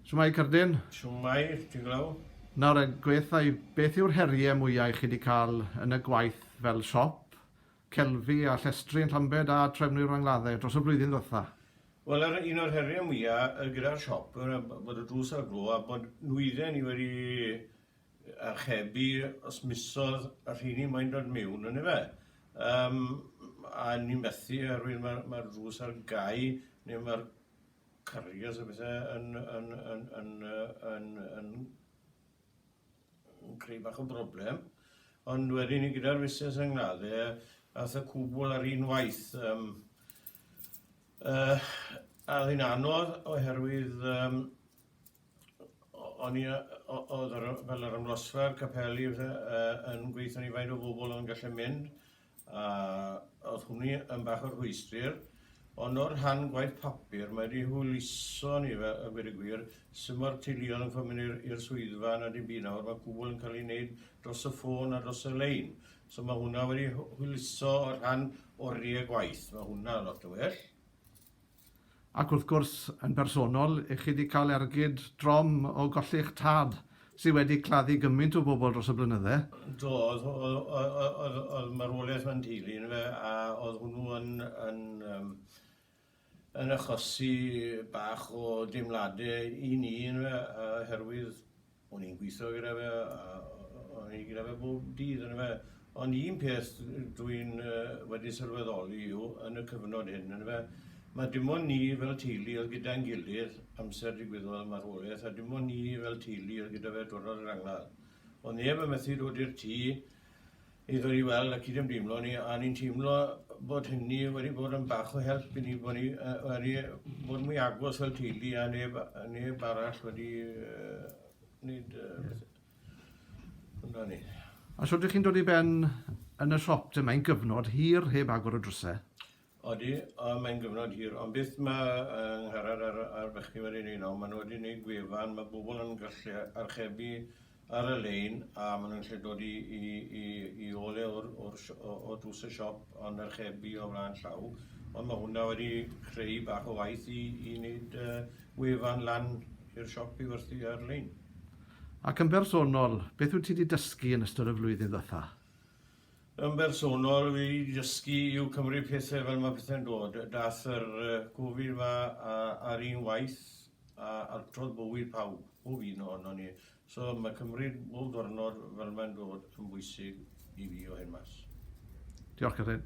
Shwmae Cerdyn? Shwmae, ti'n glaw? Nawr, gweitha i, beth yw'r heriau mwyau chi wedi cael yn y gwaith fel siop, celfi a llestri yn Llambed a Trefnwyr Rangladde dros y flwyddyn ddwytha? Wel, yr un o'r heriau mwyaf gyda'r siop, bod y drws ar y glo a bod nwydden ni wedi archebu os misodd y rheini moyn dod miwn yndyfe? Yym a ni methu oherwydd ma' ma'r drws ar gau neu ma'r carriers a pethe yn yn yn yn yy yn yn yn creu bach o broblem. Ond wedyn ni gyda'r fusnes yng ngwlad e ath y cwbwl ar un waith yym yy a o'dd hi'n anodd oherwydd yym O'n i yy o- o'dd yr yy fel yr ymlosfa a'r capeli a pethe yy yn gweitho ni faint o bobl o'n gallu mynd a o'dd hwnni yn bach o rhwystr ond o'r rhan gwaith papur mae 'di hwyluso ni fe- yy gweud y gwir sim o'r teuluodd yn fod myn' i'r i'r swyddfa na dim byd nawr ma' cwbwl yn ca'l 'i neud dros y ffôn a dros y lein so ma' hwnna wedi hw- hwyluso y rhan orie gwaith ma' hwnna lot yn well. Ac wrth gwrs, yn bersonol, i chi 'di cael ergyd drom o golli'ch tad sy' wedi claddu gymint o bobl dros y blynydde? Do, o'dd o'dd o'dd o'dd marwolaeth fy nteulu i yndyfe a o'dd hwnnw yn yn yym yn achosi bach o deimlade i ni yndyfe yy oherwydd O'n i'n gwitho gyda fe a o'n i gyda fe bob dydd yndyfe. Ond un peth dwi'n wedi sylweddoli yw yn y cyfnod hyn yndyfe ma' dim ond ni fel teulu oedd gyda'n gilydd amser digwyddodd y marwolaeth a dim ond ni fel teulu oedd gyda fe diwrnod yr angladd. O'dd neb yn methu dod i'r tŷ i ddod i weld a cydymdeimlo ni, a ni'n teimlo bod hynny wedi bod yn bach o help i ni, bod ni uh, wedi bod mwy agos fel teulu a neb, neb arall wedi uh, wneud uh, hwnna ni. Os ydych chi'n dod i ben yn y siop dyma, mae'n gyfnod hir heb agor y drysau. Odi, a mae'n gyfnod hir, ond beth ma' yng Ngharad a'r a'r bechgyn wedi neud nawr, ma' nw wedi neud gwefan, ma' bobol yn gallu archebu ar y lein, a ma' nw'n gallu dod i i i i ôl e o'r o'r si- o o drws y siop, ond archebu o flan llaw, ond ma' hwnna wedi creu bach o waith i i neud yy wefan lan i'r siop i werthu ar-lein. Ac yn bersonol, beth wyt ti 'di dysgu yn ystod y flwyddyn ddwetha? Yn bersonol, fi wedi dysgu i'w cymryd pethau fel mae pethau'n dod. Daeth yr Covid ma ar un waith a altrodd bywyd pawb, pob un ohono ni. So mae cymryd bob diwrnod fel mae'n dod yn bwysig i fi o hyn mas. Diolch, Catrin.